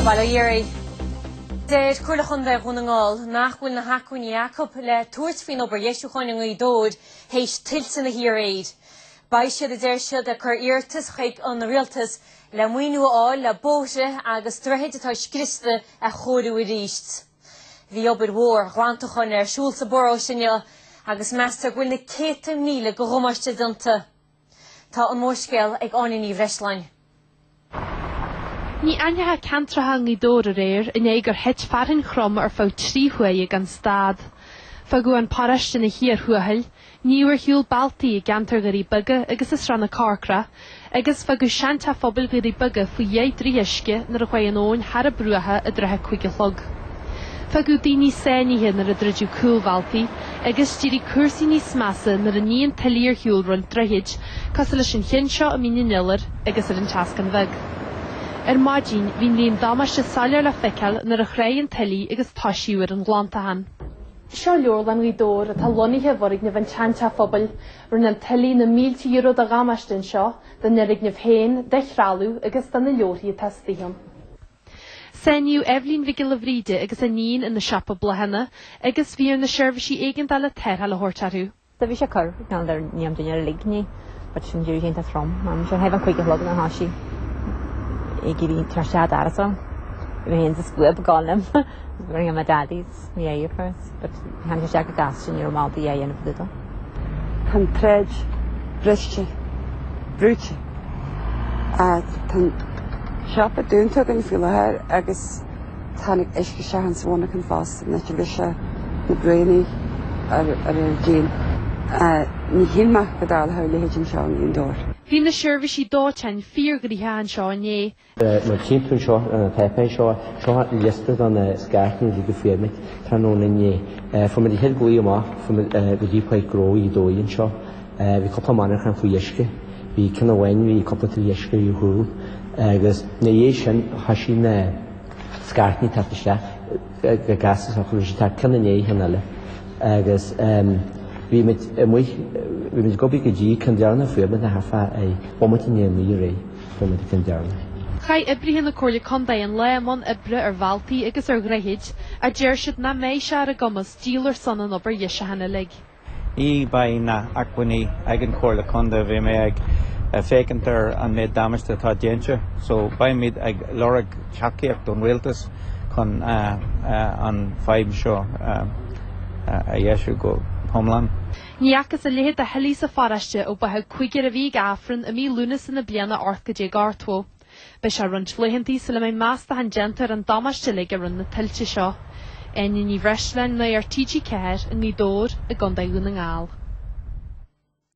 Bail ó Dhia oraibh. Deir Comhairle Chontae Dhún na nGall nach bhfuil na hacmhainní acu le tabhairt faoin obair dheisiúcháin i nGaoth Dobhair théis tuilte na hoíche aréir. Beidh siad, a deir siad, ag cur iarratas chuig an Rialtas le maoiniú a fháil le bóithre agus droichid atá scriosta a chóiriú arís. Bhí obair mhór ghlantacháin ar siúl sa bparóiste inniu agus meastar go bhfuil na céadta míle de dhamáiste déanta. Tá an mórscéal ag Áine Ní Bhreisleáin. Ní aithneofaí ceantracha i nGaoth Dobhair aréir i ndiaidh gur thit fearthainn throm ar feadh trí huaire gan stad. Fágadh an paróiste ina chíor thuathail, níodh ar shiúl bealtaí i gceantar Dhoirí Beaga agus i Srath na Corcra, agus fágadh seanteach phobail Dhoirí Beaga faoi dheich dtroigh uisce nuair a chuaigh an abhainn thar a bruacha i dtrátha a cúig a chlog. Fágadh daoine sáinnithe nuair a druideadh cúlbhealtaí agus d'éirigh cúrsaí níos measa nuair a nigh an tuile ar shiúl roinnt droichid, cosúil leis an cheann seo i Mín an Iolair agus ar an tSeascann Bheag. Ar maidin, bhí an líon damáiste soiléir le feiceáil nuair a thráigh an tuile agus toisíodh ar an ghlantachán. Seo Leabharlann Ghaoth Dobhair atá lonnaithe i bhfoirgneamh an tSeanteach Phobail. Rinne an tuile na mílte euro de dhamáiste anseo, don fhoirgneamh féin, do threalamh agus do na leabharthaí atá istigh ann. Sáinníodh Eibhlín Mhic Giolla Bhríde agus a níon ina siopa bláthanna agus bhí ar na seirbhísí éigeandála tarrtháil a thabhairt orthu. Bhí sé ag cur, gan dar ní am dinnéar uilig inné, but ansin d'éirigh sé iontach trom. Ansin thart fán cúig a chlog thoisigh sé ag iarraidh teacht sa doras orm. Bhí an scuab ag gabháil liom, rinne me daddies. Tá'n droichead briste, brúite. Tá'n siopa dúnta againn faoi láthair agus tháinig uisce isteach ann sa mhonarchan fosta. Ná tabharfaidh sé na braonaí ar ar ar díon. Níor shíl mé go dtarlódh a leithéid anseo i nGaoth Dobhair. Bhí na seirbhísí dóiteáin fíorghnoitheach anseo inné Mar a tchí tú anseo ar an taipéis seo, seo liosta de na scairteanna a fuair muid tráthnóna inné. Fuair muid an chéad ghlao amach, chuaigh muid go dtí Páirc Ghnó Ghaoth Dobhair anseo. Bhí cúpla monarchan faoi uisce, bhí ceann amháin, bhí cúpla troigh uisce ar a chúl agus ina dhiaidh sin thoisigh na scairteanna ag teacht isteach go gasta seo chugainn. Tá ceann i ndiaidh ceann eile agus bhí muid amuigh, bhí muid ag obair go dtí ceann deireanach, fuair muid ná fiche bomaite i ndiaidh a naoi aréir. Chonaic Jim Darren. Chaith oibrithe na Comhairle Contae an lá i mbun oibre ar bhealtaí agus ar dhroichid, ach deir siad nach mbeidh sé ar a gcumas díol ar son an obair dheisiúcháin uilig. Ní bheidh na h-acmhainní ag an Chomhairle Contae, bhí mé ag féachaint ar an méid damáiste atá déanta, so beimid ag lorg tacaíocht ón Rialtas chun an fadhb seo a dheisiú go h-iomlán. Ní fhacthas a leithéid de thuilte sa pharáiste ó báitheadh cúigear a bhí ag Aifreann i mí Lúnasa na bliana ocht gcéad déag ochtó. Beidh sé roinnt laethanta sula mbeidh meastachán déanta ar an damáiste uilig a rinne na tuilte seo. Áine Ní Bhreisleáin, Nuacht TG4, i nGaoth Dobhair, i gContae Dhún na nGall.